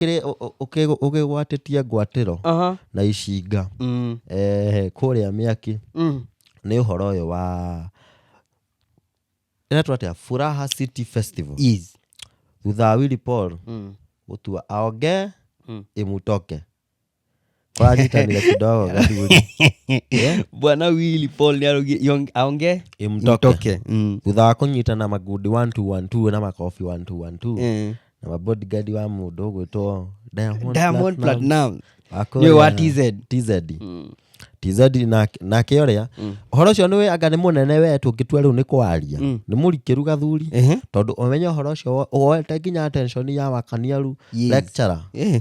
ũkĩrĩ- ũ- ũ- ũkĩgũ- ũkĩgwatĩtie ngwatĩro Aha. na icinga Mm. eh, kũrĩa mĩaki Mm. nĩ ũhoro ũyũ wa ĩretwo atĩa furaha city festival Yes. thutha wa willy paul Mm. gũtua aonge Mm. ĩmutoke kwagitania kidogo gathuri Eh? bwana wili paul nĩarogi- aonge imtoke Mm. thutha wa kũnyitana magundi 1212 na makobi 1212 Eh. na mabodigadi wa mũndũ ũgwĩtwo Diamond diamond Platinum. platinum Akũrĩa- nĩwe wa tz tz tz na- nake ũrĩa ũhoro ũcio nĩ anga nĩ mũnene we tũngĩtua rĩu nĩ kwaria nĩ mũrikĩru gathuri Ehe. tondũ ũmenye ũhoro ũcio wo- woete nginya attention ya wakaniaru Yes. lecturer Eh.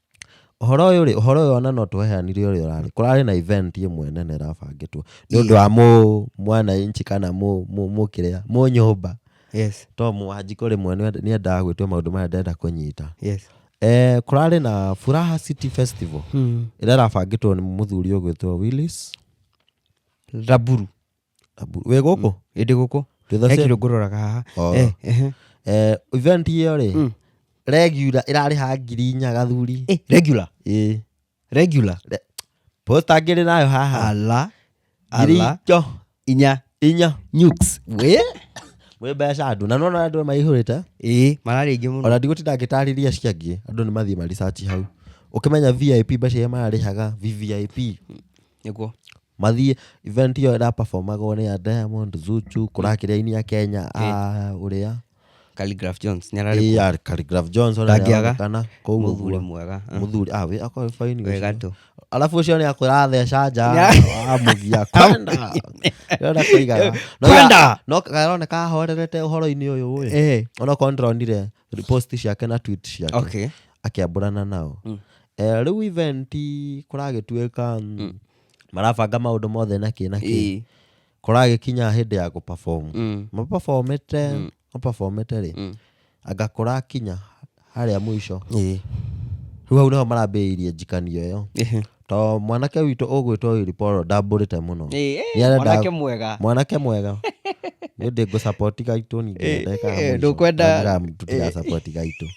Ũhoro ũyũ rĩ, ũhoro ũyũ ona no tweheanire ũrĩa ũrarĩ. Kũrarĩ na event ĩmwe nene ĩrabangĩtwo nĩ ũndũ wa mũ mwananchi kana mũ mũ mũ kĩrĩa mũ nyũmba Yes. to mũwanjikũ rĩmwe nĩ endaga gwĩtwo maũndũ maya ndenda kũnyita. Yes. Eh, kũrarĩ na Furaha City Festival Mm. ĩrĩa ĩrabangĩtwo nĩ mũthuri ũgwĩtwo Willis Raburu. Abu- wĩ gũkũ ĩndĩ gũkũ To the he same- kĩndũ ngũroraga haha Oh. Eh, ehe. Eh, event ĩyo rĩ Mm. regular ĩrarĩ ha ngiri inya gathuri Eh, regular Ĩĩ. regular Re- posta ngĩrĩ nayo haha ala ngiri ala icio inya inya nukes we wĩ mbeca ndu na nona andũ maihũrĩte ĩĩ mararĩ aingĩ mũno ona ndigũtinda ngĩtarĩria cia angĩ andũ nĩ mathiĩ maricaci hau ũkĩmenya vip mbeca iria mararĩhaga vvip nĩguo mathiĩ event ĩyo ĩraperformagwo nĩ ya Diamond Zuchu kũrakĩrĩ aini a Kenya a ũrĩa Calligraph Jones nĩ ararĩ AR Calligraph Jones ona Ndangĩaga. nĩaronekana kũu mũthuri ũguo mwega ah. mũthuri ah we akoe fine we ũcio. gatũ alafu ũcio nĩ akwĩra atheca nja Nĩa- amugia kwenda kwenda kũigaga No ya- Kwenda! no karoneka ahorerete ũhoro-inĩ ũyũ ũĩ Eh, ona korwo ndĩronire post ciake na tweet ciake okay akĩambũrana nao Eh, rĩu event kũragĩtuĩka mm, marabanga maũndũ mothe na kĩ na kĩ Ĩĩ. kũragĩkinya hĩndĩ ya gũperform Mm. maperformĩte maperformĩte rĩ Mm. anga kũrakinya harĩa mũico Ĩĩ. rĩu hau nĩho marambĩrĩirie njikanio ĩyo Ĩhĩ. to mwanake witũ ũgwĩtwo Willy Paul ndambũrĩte mũno Ĩĩ, ĩĩ, Nĩarenda- mwanake mwega mwanake mwega nĩ ndĩ ngũsapoti gaitũ ningĩ Eh, ndeka eh, mũico. ndũkwenda- Ndamira tũtigasapoti gaitũ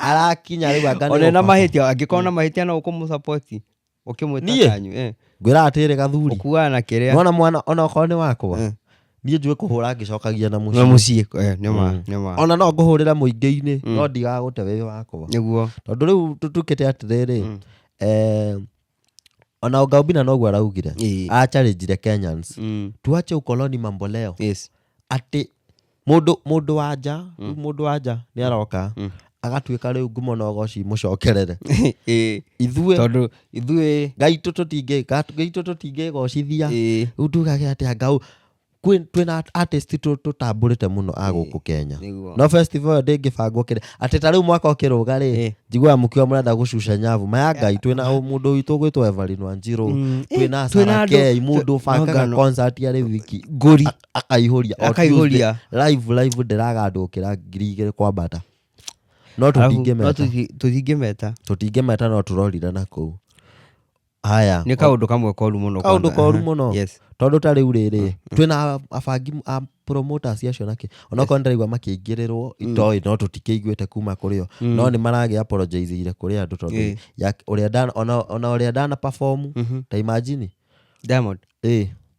arakinya rĩu anga nĩ one na gũperform. mahĩtia angĩkorwo na mahĩtia no ũkũmũsapoti ũkĩmwĩta Niĩ? kanyu eh, ngwĩra atĩrĩ gathuri ũkuaga na kĩrĩa nona mwana ona okorwo nĩ wakwa Eh. niĩ njũĩ kũhũra ngĩcokagia na na mũciĩ mũciĩ eh, nĩ ma Mm. nĩ ma ona no ngũhũrĩre mũingĩ-inĩ Mm. no ndigagũte wĩ wakwa nĩguo tondũ rĩu tũtukĩte atĩrĩrĩ Mm. eh, ona ũngaumbina noguo araugire Ĩĩ. acharinjire kenyans Mm. tuache ukoloni mamboleo Yes. atĩ mũndũ mũndũ wa nja rĩu mũndũ wa nja nĩ aroka Mm. agatuĩka rĩu ngumo na ũgoci mũcokerere Ĩĩ, ithuĩ tondũ ithuĩ gaitũ tũtingĩ gat- gaitũ tũtingĩgocithia ĩĩ, rĩu tugage atĩa ngau kwĩ- twĩna artist tũ- tũtambũrĩte mũno a gũkũ kenya nĩguo. no festival ĩyo ndĩngĩbangwo kĩrĩ atĩ ta rĩu mwaka ũkĩrũga rĩ Ĩĩ. njiguaga mũkiwa mũrenda gũcuca nyavu maya ngai twĩna ũ- mũndũ witũ ũgwĩtwo evarinwa njirũ Mm, ĩĩ, twĩna twĩna andũ- sarakei mũndũ no bangaga ngano. concert ya rĩu wiki ngũri akaihũria o Akaihũria. Tuesday, live live ndĩragandũkĩra ngiri igĩrĩ kwambata no Arabu, no tũtingĩmeta tũthi- tũtingĩmeta tũtingĩmeta no tũrorire na kũu haya nĩ kaũndũ kamwe koru mũno kaũndũ kwanza. koru Aha. mũno Yes. tondũ ta rĩu rĩrĩ twĩna abangi a promoters acio nake onakorwo ndĩraigua makĩingĩrĩrwo itoĩ no tũtikĩiguĩte kuma kũrĩ o no nĩ maragĩa apologizeire kũrĩ andũ tondũ Eh. ya- ũrĩa ndana- ona- ona ũrĩa ndana perform ta imagine Diamond. ĩ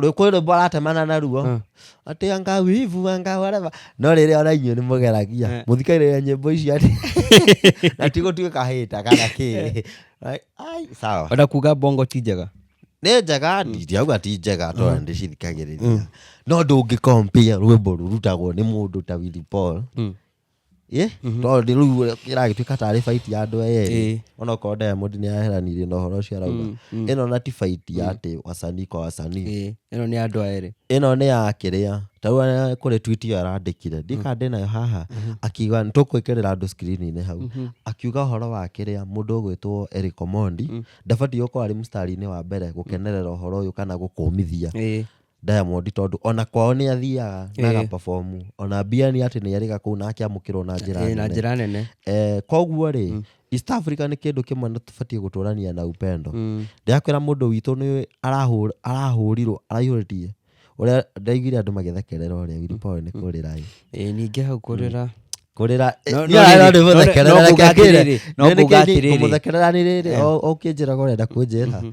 rwĩkũyũ rwĩmbo aratemana naruo Mm. atĩ anga wivu anga whatever no rĩrĩa ona inyuĩ nĩ mũgeragia Eh. mũthikagĩrĩria nyĩmbo icio atĩ na ti gũtuĩka kahĩta kana kĩ Right? Ai, sawa ona kuga bongo ti njega nĩ njega ndiauga ti njega to nĩ ndĩcithikagĩrĩria no ndũngĩ compare rwĩmbo rurutagwo nĩ mũndũ ta Willy Paul Mm. ĩ tondũ rĩu ũrĩa ĩragĩtuĩka tarĩ baiti ya andũ aya Ĩĩ. erĩ ona okorwo diamond nĩ aheranirie na ũhoro ũcio arauga Mm, mm. ĩno na ti baiti ya atĩ wasanii kwa wasanii Ĩĩ, ĩno nĩ andũ a erĩ ĩno nĩ ya kĩrĩa tarĩu arĩa kũrĩ tweet ĩyo arandĩkire ndikana ndĩ nayo haha akiuga nĩtũkwĩkĩrĩra andũ screen-inĩ hau akiuga ũhoro wa kĩrĩa mũndũ ũgwĩtwo Eric Omondi ndabatiĩ gũkorwo arĩ mstari-inĩ wa mbere gũkenerera ũhoro ũyũ kana gũkũmithia Ĩĩ. Diamond tondũ ona kwao nĩ athiaga na Ĩĩ. agaperform ona mbia nĩ atĩ nĩ arĩga kũu na akĩamũkĩrwo na njĩra Eh, na nene. njĩra nene Eh, koguo rĩ east africa nĩ kĩndũ kĩmwe nĩ tũbatiĩ gũtũrania na upendo Mm. ndĩrakwĩra mũndũ witũ nĩ arahũr- arahũrirwo araihũrĩtie ũrĩa ndaiguire andũ magĩthekerera ũrĩa wiripawe nĩ kũrĩra ĩ. Eh, ningĩ hau kũrĩra kũrĩra No- no rĩrĩ, no- no nguga atĩrĩrĩ, no nguga atĩrĩrĩ. kũmũthekerera nĩ rĩrĩ Eh. o- o ũkĩnjĩraga ũrenda kũnjĩra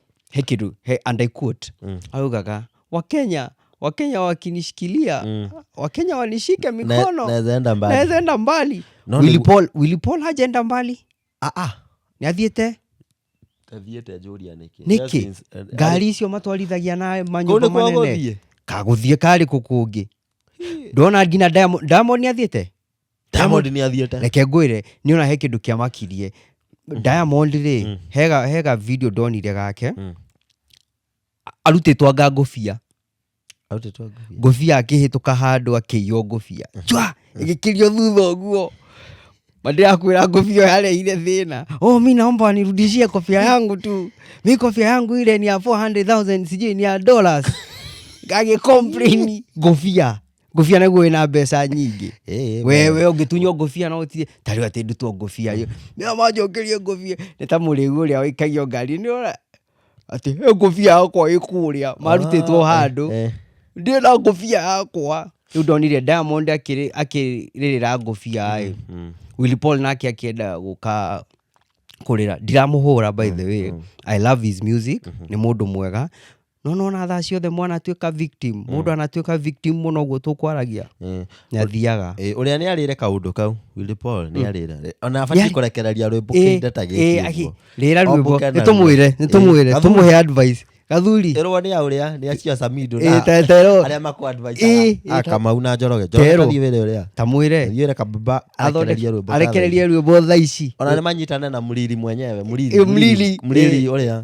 he kitu he, and I quote mm. augaga wakenya wakenya wakinishikilia mm. wakenya wanishike mikono naweza enda mbali. naweza enda mbali No, Willy ni- Paul- Willy Paul hajaenda mbali ah, ah. niathiĩte Athiĩte ajũria nĩkĩ. nĩkĩ Yes, yes. Eh, ngari icio matwarithagia na Kũu manyũmba nĩkuo manene gũthiĩ? kagũthiĩ karĩ kũ kũngĩ ndona nginya Diamond- Diamond nĩathiĩte diamond nä athiäte reke ngwĩre nĩ ona he kĩndũ kĩamakirie Mhm. diamond rĩ hega hega video ndonire gake Mm. arutĩtwo anga ngũbia ngũbia akĩhĩtũka handũ akĩiywo ngũbia Mhm. jwa ĩgĩkĩrio thutha ũguo mandĩrakwĩra ngũbia ĩyo yarehire thĩna oh mi naomba wanirudishie kofia yangu tu mi kofia yangu ile ni ya 400000 sijui ni ya dollars agĩkomplaini ngũbia ngũbia naguo wĩna mbeca nyingĩ Eh, wewe ũngĩtunywo ngũbia no ũtire tarĩu atĩ ndutwo ngũbia ĩ nĩo manjũkĩrie ngũbia nĩ ta mũrĩu ũrĩa ũikagio ngari nĩ ũra atĩ "Ĩ, ngũbia yakwa ĩ kũrĩa marutĩtwo Ah, handũ eh, ndĩ na ngũbia yakwa rĩu ndonire diamond akĩrĩ- akĩrĩrĩra ngũbia ĩ mm. Willy Paul nake akĩenda gũka kũrĩra ndiramũhũra by the way i love his music nĩ mũndũ mwega no nona thaa ciothe mwana atuĩka victim mm. mũndũ anatuĩka victim mũno ũguo tũkwaragia mm. nĩ athiaga eh, ũrĩa nĩ arĩre kaũndũ kau Willy Paul nĩ mm. arĩra ona abatiĩ kũrekereria rwĩmbo eh, kĩnda ta gĩkĩ rĩra rwĩmbo nĩ tũmwĩre nĩ tũmwĩre eh, tũmũhe advice gathuri terwa ni auria ni acio samido na terwa aria maku advice akamau na njoroge njoroge ni wele uria tamwire yere kababa athonderie rwimbo arekererie rwimbo tha ici ona ni manyitane na muriri mwenyewe muriri muriri muriri uria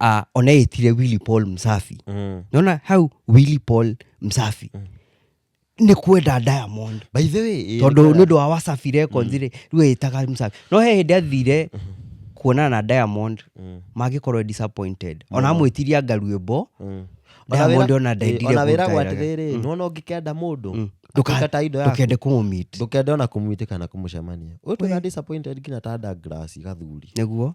uh, ona etire willy paul msafi Mm. nona hau willy paul msafi nä kwenda diamond By the way, eh, tondå nä nilikuwa- å ndå wa wasafi records rä rä u ätaga msafi no he hä ndä athire kuonana na diamond Mm. mangä korwo disappointed ona amwä tiria ngaruä mbo Mm. Diamond ona ndaendire ona wĩragwo kũruta atĩrĩrĩ nona ũngĩkenda mũndũ atuĩka ta indo ndå yaku kende kå må mit ndũkende ona kũmwĩtĩka na kũmũcemania ũyũ twĩna disappointed nginya ta ndagrasi gathuri nä guo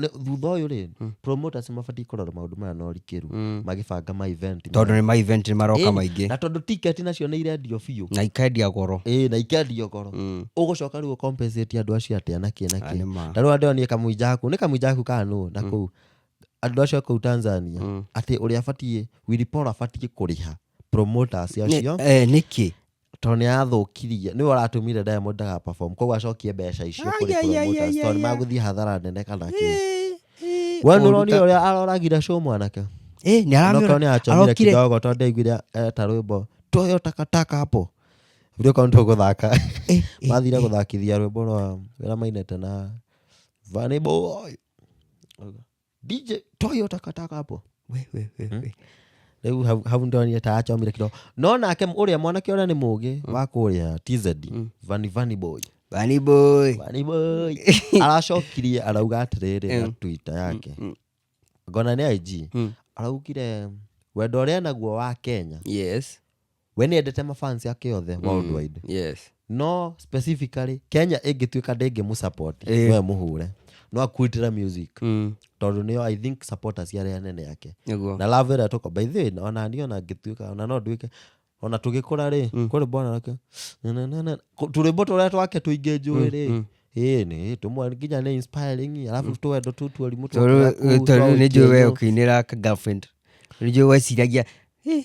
Nĩ- thutha ũyũ rĩ promoters mabatiĩ kũrora maũndũ maya na ũrikĩru magĩbanga ma event maya. tondå nä ma event nä maroka Ĩni, maingä na tondå ticket nacio nä irendio biũ na ikendia goro ĩĩ na ikendio goro Mm. ũgũcoka rĩu ũcompensate andũ acio atĩa na kĩ na Ah, nĩ ma. kĩ tarĩu andũ nĩ kamũinja aku nĩ kamũinja aku kana nũ na kũu andũ acio kũu tanzania atĩ ũrĩa abatiĩ wiripora abatiĩ kũrĩha promoters acio nä kä tondũ nĩ arathũkirie nĩwe ũratũmire diamond ndaga perform koguo acokie mbeca icio kũrĩ Ai, ai, ai, promoters, ai, tondũ ai, nĩ ai. magũthiĩ hathara nene kana kĩ Ĩ, ĩ, we nĩ ũru ũronire ta- ũrĩa aroragire show mwanake Ĩ, nĩ Onokorwo aramĩona- nĩ acomire arokire- kidogo tondũ ndaiguire eta rwĩmbo toyo takataka hapo vile kwa mtu gũthaka Ĩ, ĩ, mathire gũthakithia rwĩmbo rwa wĩra mainete na vaniboy dj toa hiyo takataka hapo we, we, we, we. rĩu hau- hau ndonire ta acomire kidogo no nake ũrĩa mwanake ũrĩa nĩ mũgĩ wa kũrĩa tz vani vani boy Bunny boy Bunny boy. aracokirie arauga atĩrĩrĩ na twitter yake ngona nĩ ig araugire wendo ũrĩa naguo wa kenya yes we nä endete mafans ake othe worldwide yes no specifically kenya ĩngĩtuĩka ndĩngĩ mũsupport Eh. we mũhũre no akuitĩra music mm. tondũ nĩyo i think supporters cia arĩa nene yake nĩguo na love ĩrĩa tũko by the way ona niĩ ona ngĩtuĩka ona no nduĩke ona tũgĩkũra rĩ Mm. kũrĩ mbona rake tũrĩmbo tũrĩa twake tũingĩ njũĩ rĩ mm. ĩĩ nĩ tũmwe nginya nĩ inspiring alafu tũwendo tũ tuarimũ tondũ nĩ njũĩ we ũkĩinĩra ka girlfriend nĩ njũĩ weciragia "Eh,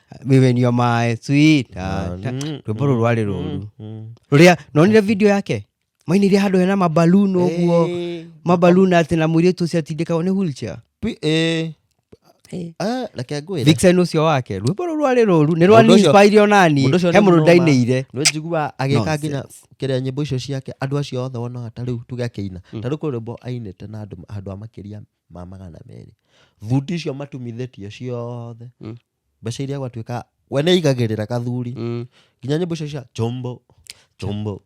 even you're my sweetheart rwĩmbo rũu rwarĩ rũru rũrĩa nonire video yake mainire handũ hena mabalun ũguo Eh, mabalun atĩ na mũirĩtu ũcio atindĩkagwo nĩ wheelchair pi- eh. Eh. Ah, reke ngwĩre. vixen ũcio wake rwĩmbo rũu rwarĩ rũru nĩ Mũndũ ũcio- rwanĩspire onani mũndũ ũcio he nĩ mũndũ mũnoma. ndainĩire nä njigua agä ka nginya Nonsense. kä rä a nyä mbo icio ciake andå acio othe wonaga ta rä u tuge akä ina ta rä u kå rä mbo ainä te na andå handå a makä ria ma magana merĩ thuti icio matumithĩtio ciothe Mm. mbeca iria gwatuĩka we nĩ aigagĩrĩra kathuri Mm. nginya nyĩmbo icio cia chombo chombo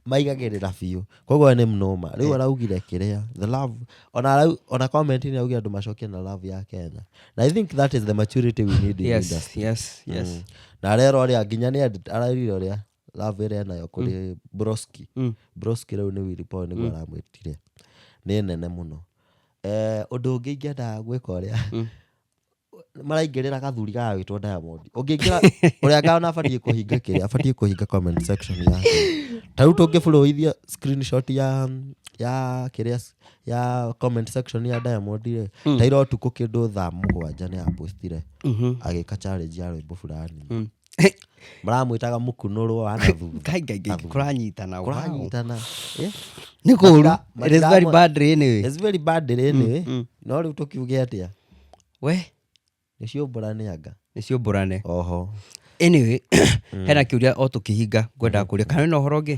maigagĩrĩra biũ koguo we nĩ mnoma rĩu araugire kĩrĩa the love ona arau- ona comment nĩ augire andũ macokie na love ya kenya na i think that is the maturity we need in yes industry. yes yes Mm. na arera ũrĩa nginya nĩ edit- ararire ũrĩa love ĩrĩa nayo kũrĩ broski Mm. broski rĩu nĩ Willy Paul nĩguo aramwĩtire nĩ nene mũno Eh, ũndũ ũngĩ ingĩenda gwĩka ũrĩa Mm. maraingĩrĩra gathuri gagagĩtwo diamond ũngĩingĩra ũrĩa ngana abatiĩ kũhinga kĩrĩa abatiĩ kũhinga comment section yake ta rĩu tũngĩbũrũithia screenshot ya ya kĩrĩa ya comment section ya diamond rĩ ta ira ũtukũ kĩndũ thaa mũgwanja nĩ apostire Mhm. agĩka challenge ya rwĩmbo fulani Mm. maramwĩtaga mũkunũrũ wa na thutha Ngai, ngai, ngai, Athuri. kũranyitana wow. kũranyitana Eh? nĩ kũru Matira- it is matira- very bad anyway It's very bad anyway. mm. no rĩu tũkiuge atĩa we nĩcio mbũra nĩ anga nĩcio mbũrane oho anyway hena kĩũria o tũkĩhinga ngwendaga kũria kana wĩna ũhoro ũngĩ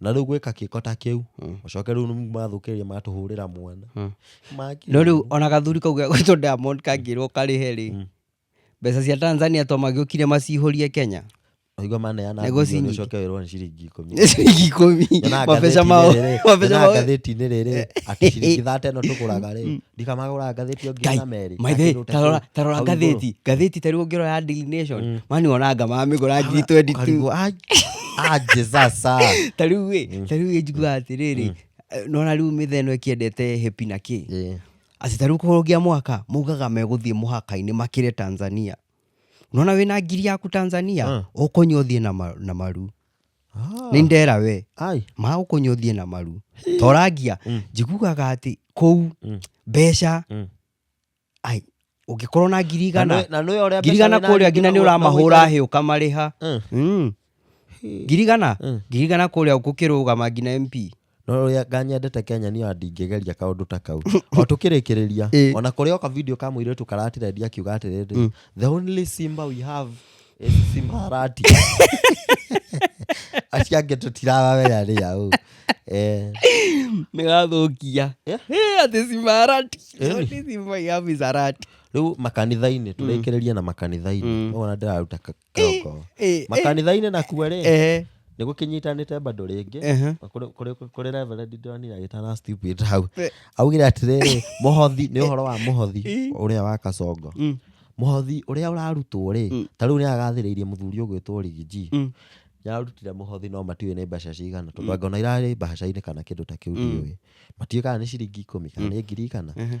na rĩu gwĩka kĩko ta kĩu ũcoke rĩu mathũkĩrĩria matũhũrĩra mwana Makĩ- no rä u ona gathuri kau gä gwätwo diamond kangärwo karä he rä mbeca cia tanzania to magä å kire macihårie kenya Waigua maneana Nĩguo mbirioni cinyingi. ũcoke wĩrwo nĩ ciringi ikũmi nä ciringi ikå mi Nyonaga mabeca ngathĩti-inĩ mao rĩrĩ- mabeca nyonaga mao ngathĩti-inĩ rĩrĩ atĩ ciringi thate ĩno tũgũraga rĩ ndikamagũra ngathĩti ĩyo ngiri na merĩ na maithe kĩndũ ta tarora kĩu tarora hau igũrũ. ngathĩti ngathĩti tarĩu ũngĩrora ya Daily Nation mani onanga mamĩgũra ngiri 22 Ũkarigwo, "Ai, ah, Jesus, ah." tarĩu ĩ tarĩu ĩ njiguaga atĩrĩrĩ eh, nona rĩu mĩthe ĩno ĩkĩendete hepi na kĩ Ĩ, atĩ tarĩu kũrũgia mwaka maugaga megũthiĩ mũhaka-inĩ makĩre tanzania nona wĩna ngiri yaku tanzania ũkũnyua ũthiĩ na ma- na maru Ah. nĩ ndera we Ai. magũkũnywa ũthiĩ na maru torangia Mm. njiguaga atĩ kũu Mm. mbeca Mm. ai ũngĩkorwo na ngiri igana Na nĩ ũrĩa ngiri igana kũrĩa nginya nĩ ũramahũra hĩ ũkamarĩha Mm. Mm. ngiri igana Mm. ngiri igana kũrĩa gũkĩrũgama nginya mp no ũrĩa nganyendete kenya niyo ndingĩgeria kaũndũ ta kau o tũkĩrĩkĩrĩria Ĩ. ona kũrĩ oka video ka mũirĩtu karatirendia akiuga atĩrĩrĩ the only simba we have is simba harati acio angĩ tũtirawawea rĩa ũ Eh, nĩgathũkia Yeah. Eh, atĩ cimarati Eh. Atĩ cimaiabi zarati rĩu makanitha-inĩ tũrĩkĩrĩrie na makanitha-inĩ ũguo na ndĩraruta ka- kĩroko Eh, eh, makanitha-inĩ nakuo rĩ eh, nĩ gũkĩnyitanĩte bado rĩngĩ ehe. kũrĩ- kũrĩ kũrĩ reverend ndonire agĩtana stupid hau Eh. augire atĩrĩrĩ mũhothi nĩ ũhoro wa mũhothi Eh. ũrĩa wa kacongo Mm, mũhothi ũrĩa ũrarutwo rĩ Mm. ta rĩu nĩ agathĩrĩirie mũthuri ũgwĩtwo rigiji mm, yarutire mũhothi no matiũĩ nĩ mbeca cigana tondũ angona irarĩ mbaca-inĩ kana kĩndũ ta kĩu Mm. ndiũĩ matiũĩ kana nĩ ciringi ikũmi kana nĩ ngiri kana ehe.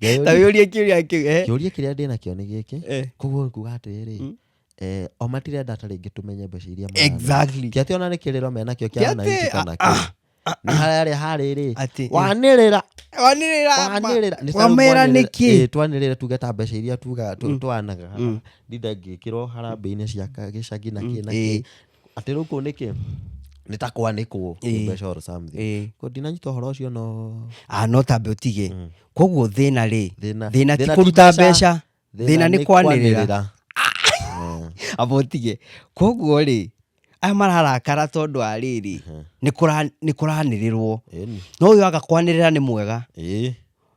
Ngeyũria- na wĩũrie kĩũria kĩu eh, kĩũria kĩrĩa ndĩ nakĩo nĩ gĩkĩ eh. koguo kuga atĩrĩrĩ Mm. eh, o matirenda ta rĩngĩ tũmenye mbeca iria mararĩa. Exactly. Ti atĩ ona nĩ kĩrĩro menakĩo Ti kĩa atĩ, wananchi kana ah, kĩ nĩ harĩa harĩrĩ Atĩ, eh, wanĩrĩra wanĩrĩra ma- wanĩrĩra Nĩ wamera sababu nĩ kĩ? wanĩrĩra- ĩĩ, twanĩrĩra tuge ta mbeca iria tugaga tu- Mm. twanaga Mm. ndinda ngĩkĩrwo harambĩ-inĩ cia ka- gĩcagi na Mm, kĩ na ĩĩ. kĩ atä rä u kå u nä kä nä ta kwanäkwo Ĩĩ. mbeca or something Ĩĩ. Ko ndinanyita å horo å cio no Ah, no tambe utige Mm. koguo thina ri Thĩna- thina ti thĩna ti kuruta mbeca. mbeca thina ni kwanirira Eh, aba utige koguo ri aya mararakara tondu wa riri ni kuranirirwo ĩni, no uyu agakwanirira ni mwega ĩĩ.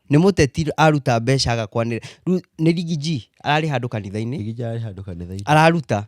ni muteti aruta mbeca agakwanirira Riu ni rigiji arari handu kanitha-ini Rigija arĩ handũ kanitha-inĩ araruta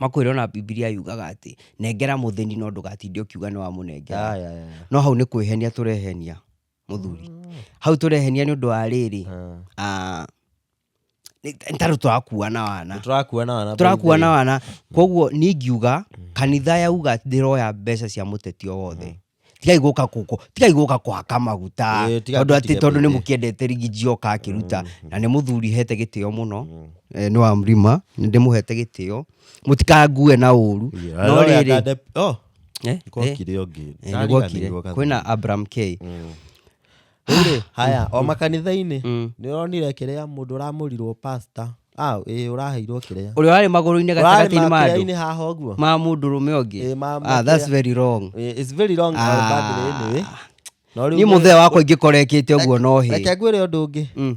Makwĩra ona Bibilia yugaga atĩ, nengera mũthĩni no ndũgatinde ũkiuga nĩ wamũnengera. Ah, yeah, yeah. No hau nĩ kwĩhenia tũrehenia mũthuri. Hau tũrehenia nĩ ũndũ wa rĩrĩ, ah, nĩ- nĩ tarĩ tũrakuua na wana Tũrakua na wana. tũrakuua na wana koguo niĩ ngiuga kanitha yauga atĩ ndĩroya mbeca cia mũteti o wothe tigai gũka kũkũ tigai gũka kũhaka maguta Ĩĩ, tigai tondũ atĩ gũtiga tondũ nĩ mbĩtĩ. mũkĩendete rigi njioka akĩruta na nĩ mũthuri hete gĩtĩo mũno eh, nĩ wa mrima nĩ ndĩmũhete gĩtĩo mũtikangue na ũru no rĩrĩ Eh, eh, gwokire ũngĩ eh, nĩ gwokire. Ndariganĩirwo gathĩ. kwĩna abram k Rĩrĩ, haya o makanitha-inĩ Mm. nĩ ũronire kĩrĩa mũndũ ũramũrirwo pasta ah, ĩĩ ũraheirwo kĩrĩa ũrĩa warĩ magũrũ-inĩ ũrarĩ gatagatĩ-inĩ ma andũ makĩrĩa-inĩ haha ũguo ma mũndũ rũme ũngĩ Ĩĩ, ma- ah, that's makĩrĩa. very wrong Ĩĩ, it's very long Ah. ah. badly anyway. No rĩu niĩ nĩ- mũthee wakwa ingĩkora ekĩte ũguo no hĩ reke ngwĩre ũndũ ũngĩ Mm.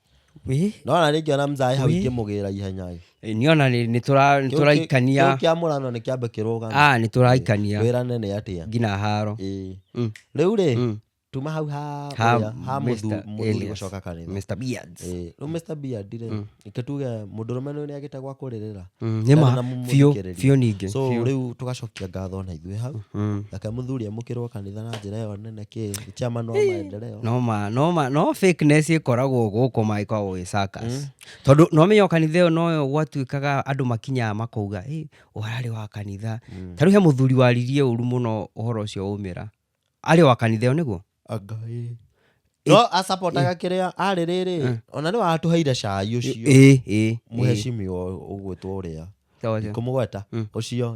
Wĩ, no ona rĩngĩ ona mzai hau Wĩ. ingĩmũgĩra ihenya ĩ. ĩ, nĩ ona nĩ- nĩ tũra- nĩ Kĩu kĩ- tũraikania kĩu kĩa mũrano nĩ kĩambe kĩrũgame Ah, nĩ tũraikania wĩrane nĩ atĩa nginya haro Ĩ. Mm. rĩu rĩ Mm. tuma hau ha Ha ũrĩa- ha mũthu- Mr. mũthuri Elias. gũcoka kanitha Mr. Beards. Ĩ, rĩu Mr. Beard rĩ Mm. reke tuge mũndũrũme nĩ agĩte gwa kũrĩrĩra Mm, nĩ ma Ndana biũ mũmũthikĩrĩrie. biũ ningĩ so biũ. rĩu tũgacokia ngatho na ithuĩ hau Mm. reke mũthuri amũkĩrwo kanitha na njĩra ĩyo nene kĩ chama no maendeleo no ma no ma no fakeness ikoragwo guku ma ikoragwo i circus tondu no menyo kanitha iyo no yo gwatuikaga andu makinyaga makauga hey, warari wa kanitha ta riu he muthuri waririe uru muno uhoro ucio umira ari wa kanitha iyo niguo anga ĩ. no asapotaga kĩrĩa arĩ rĩrĩ ona nĩ watũheire cai ũcio ĩ ĩ mũhecimiwa ũgwĩtwo ũrĩa Sawa sawa. kũmũgweta ũcio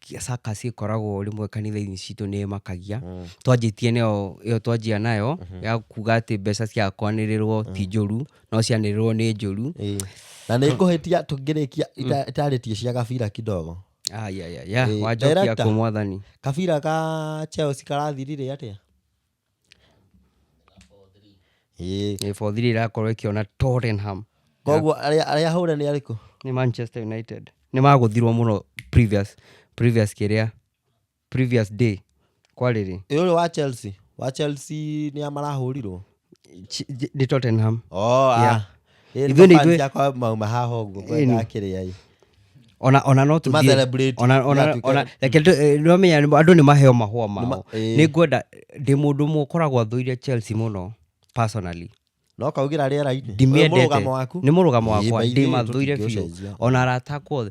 circus ĩkoragwo rĩmwe kanitha-inĩ citũ nĩ ĩmakagia Mm. twanjĩtie nayo ĩyo twanjia nayo ya kuga atĩ mbeca cia kwanĩrĩrwo ti njũru no cianĩrĩrwo nĩ njũru Ĩĩ. na nĩ ngũhĩtia tũngĩrĩkia ita- itarĩtie cia gabira kidogo ayayaya Ĩĩ, wanjokia director. kũ mwathani kabira ka chelsea karathirire atĩa Ĩĩ. Ĩĩ, four three ĩrakorwo ĩkĩona Tottenham Koguo arĩa arĩa hũre nĩ arĩkũ? nĩ Manchester United nĩ magũthirwo mũno previous previous kĩrĩa previous day kwarĩ rĩ Ĩ ũyũ wa Chelsea. Wa Chelsea nĩ a marahũrirwo? Ch- j- nĩ Tottenham Oh, Yeah. ah. Ithuĩ nĩ ithuĩ- ithuĩakwa mauma haha ũguo Ĩĩ, nĩ. akĩrĩa ĩ ona ona no tũthiĩ- Tũma-celebrate, ona- ona- tũgatuĩka- ona- reke tũ- eh, nĩwamenya nĩ- andũ nĩ maheo mahũa mao Nĩma- ĩĩ. nĩ ngwenda ndĩ mũndũ ũmwe ũkoragwo athũire chelsea mũno personally no kaugĩra rĩera-inĩ Ũyũ ndimĩendete mũrũgamo waku nĩ mũrũgamo Ĩĩ, wakwa by the way, ndĩmathũire biũ tũtingĩũcenjia. ona arata akwa othe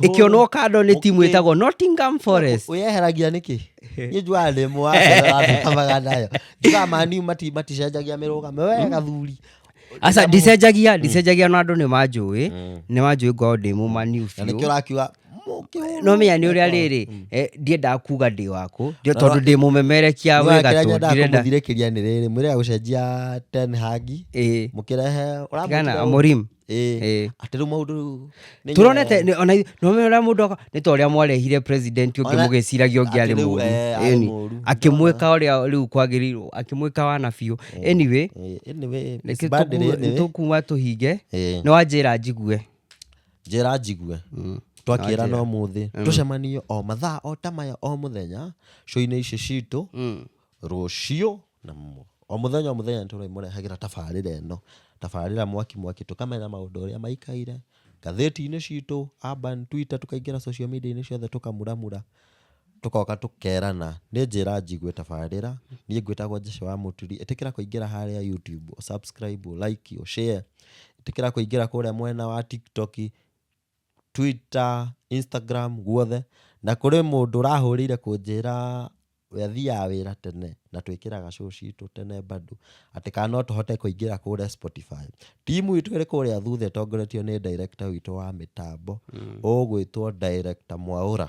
ĩkĩonwo kando nĩ timu Okay. ĩtagwo nottingham forest wĩyeheragia nĩkĩ niĩ njuaga ndĩ mũwaamaga nayo njuaga maniu mati- maticenjagia mĩrũgame we gathuri aca ndicenjagia ndicenjagia no andũ nĩ manjũĩ nĩ manjũĩ ngorwo ndĩ mũmaniu na nĩkĩo biũ ũrakiuga mũkĩhũrwo. no menya nĩ ũrĩa rĩrĩ eh, ndiendaga kuga ndĩ waku ndio Na- tondũ ndĩ mũmemerekia Nĩwona wĩ kĩrĩa gatũ nyendaga ndirenda kũmũthirĩkĩria nĩ rĩrĩ mwĩre gũcenjia ten hagi Ĩĩ. mũkĩrehe Tigana, Amorim. Eh, Eh. atĩ rĩu maũndũ rĩu nĩ turonete nyore. nĩ- ona nome ũrĩa mũndũ aka- nĩ ta ũrĩa mwarehire president ũngĩ Ona- mũgĩciragia ũngĩ arĩ atĩ rĩu, mũru eh, arĩ Ĩni. mũru. akĩmwĩka ũrĩa rĩu kwagĩrĩirwo akĩmwĩka wana biũ anyway Eh, anyway, reke it's bad, tũkuwe- anyway. tũkuwa tũhinge Eh, nĩ wanjĩra njigue njĩra njigue twakĩra no mũthĩ tũcemanio o mathaa o ta maya o mũthenya cũinĩ ici citũ rũciũ na mu- o mũthenya o mũthenya nĩtũrĩmũrehagĩra tabarĩra ĩno tabarĩra mwaki mwaki tũkamenya maũndũ ũrĩa maikaire ngathĩti-inĩ citũ urban twitter tũkaingĩra social media-inĩ ciothe tũkamuramura tũgoka tũkerana nĩ njĩra njigue tabarĩra niĩ ngwĩtagwo Jesũ wa mũturi ĩtĩkĩra kũingĩra harĩa YouTube ũ subscribe ũ like ũ share ĩtĩkĩra kũingĩra kũrĩa mwena wa tiktok Twitter, Instagram guothe, na kũrĩ mũndũ ũrahũrĩire kũnjĩra we athiaga wĩra tene na twĩkĩraga show citũ tene bado atĩ kana no tũhote kũingĩra kũrĩa Spotify. Timu itũ ĩrĩ kũrĩa thutha ĩtongoretio nĩ director witũ wa mĩtambo ũgwĩtwo director Mwaũra.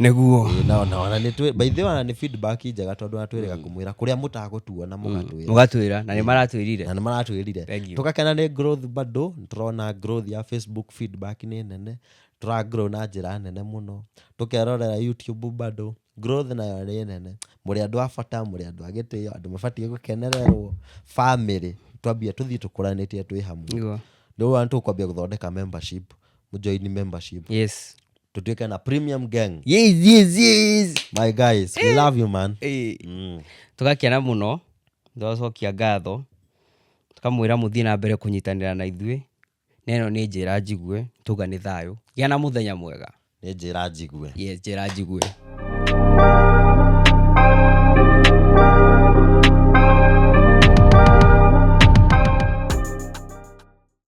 nĩguo Ĩĩ, nao nao na nĩ twĩ- by the way, ona nĩ feedback njega tondũ ona twĩrĩga kũmwĩra kũrĩa mũtagũtuona mũgatwĩra mũgatwĩra na nĩ maratwĩrire na nĩ maratwĩrire Thank you. tũgakena nĩ growth bado nĩ tũrona growth ya facebook feedback nĩ nene tũragrow na njĩra nene mũno tũkerorera youtube bado growth nayo nĩ nene mũrĩ andũ a bata mũrĩ andũ a gĩtĩo andũ mabatiĩ gũkenererwo family twambia tũthiĩ tũkũranĩtie twĩ hamwe Nĩguo. rĩu nĩ tũkwambia gũthondeka membership mũjoini membership yes tutuweke na premium gang yes yes yes my guys we love you man Eh, mm. tũgakena mũno tũgacokia ngatho tũkamwĩra mũthiĩ na mbere kũnyitanĩra na ithuĩ na ĩno nĩ njĩra njigue tuga nĩ thayũ gĩa na mũthenya mwega nĩ njĩra njigue yes njĩra njigue